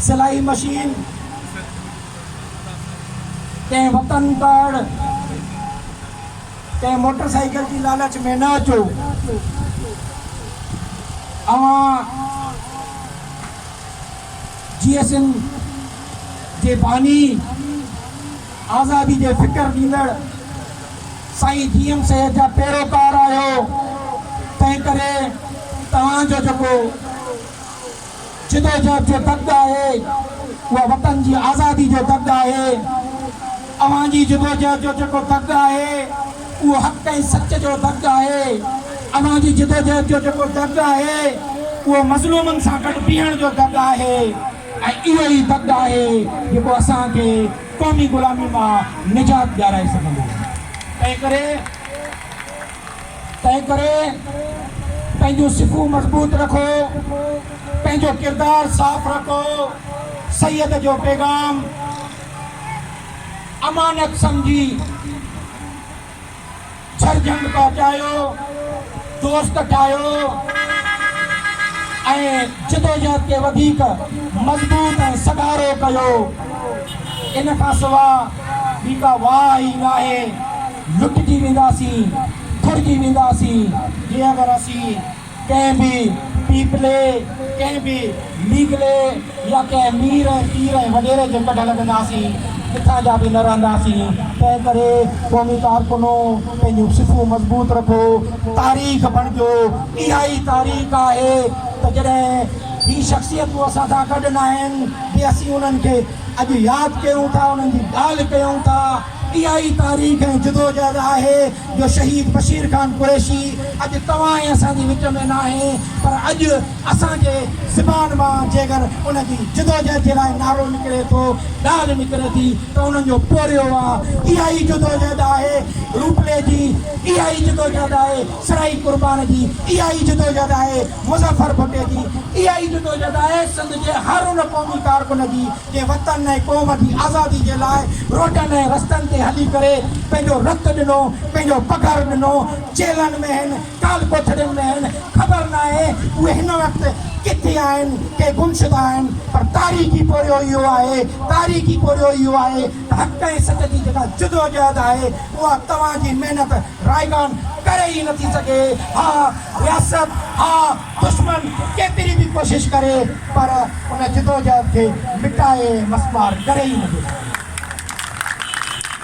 سلائي مشين ڪنهن وطن پڙ ڪنهن موٽر سائيڪل جي لالچ ۾ نه اچو اوهان جي ايس ايم جي باني آزادي جي فڪر ڏيندڙ سائين جي ايم سيد جا پيروڪار آهيو تنهن ڪري توهان جو جيڪو جدوجهد جو دڳ آهي اها وطن جي آزادي جو دڳ آهي اوهان جي جدوجهد جو جيڪو دڳ آهي اهو حق ۽ سچ جو دڳ آهي اوهان جي جدوجهد جو جيڪو دڳ آهي اهو مظلومن سان گڏ بيهڻ جو دڳ آهي ۽ اهو ئي دڳ آهي جيڪو اسان کي قومي غلامي مان نجات ڏيارائي سگهندو. تنهن ڪري تنهن ڪري پنهنجون صفون مضبوط رکو، پنهنجو ڪردار صاف رکو، سيد جو پيغام امانت سمجهي، ڇر جهنگ پهچايو، دوست ٺاهيو ۽ جدوجهد کي وڌيڪ مضبوط ۽ سگهارو ڪيو. ان کان سواء ٻي ڪا واهه ئي ناهي. لٽجي وينداسين، ڦرجي وينداسين جي اگر اسين ڪنهن به پيپلي، ڪنهن به ليگلي يا ڪنهن مير ۽ پير ۽ وڏيري جي ڪڍ لڳنداسين، ڪٿان جا به نه رهنداسين، تنهن ڪري قومي ڪارڪنو پنهنجون صفون مضبوط رکو، تاريخ بڻجو، اها ئي تاريخ آهي ته جڏهن هي شخصيتون اسان سان گڏ ناهن به اسين انهن کي اڄ ياد ڪيون ٿا، انهن جي ڳالهه ڪيون ٿا. اها ئي تاريخ ۽ جدوجهد آهي جو شهيد بشير خان قريشي اڄ توهان ۽ اسان جي وچ ۾ ناهي پر اڄ اسان جي زبان مان جيڪر ان جي جدوجهد جي لاء نعرو نڪري ٿو، ڳالهه نڪري ٿي ته انهن جو پورهيو آ. اها ئي جدوجهد آهي روپڙي جي، اها ئي جدوجهد آهي سرائي قربان جي، اها ئي جدوجهد آهي مظفر ڀٽي جي، اها ئي جدوجهد آهي سنڌ جي هر ان قومي ڪارڪن جي، جنهن وطن ۽ قوم جي آزادي جي لاء روڊن ۽ رستن تي هلي ڪري پنهنجو رت ڏنو، پنهنجو پگهر ڏنو، جيلن ۾ هن، ڪال ڪوٺڙين ۾ هن، خبر ناهي اهي هن وقت ڪٿي آهن، ڪي گمشده آهن، پر تاريخي پورهيو اهو آهي، تاريخي پورهيو اهو آهي ته حق ۽ سچ جي جيڪا جدوجهد آهي، اها توهان جي محنت رائگان ڪري ئي نٿي سگهي، ها رياست، ها. دشمن ڪيتري به ڪوشش ڪري پر ان جدوجهد کي مٽائي مسمار ڪري ئي نٿو سگهي.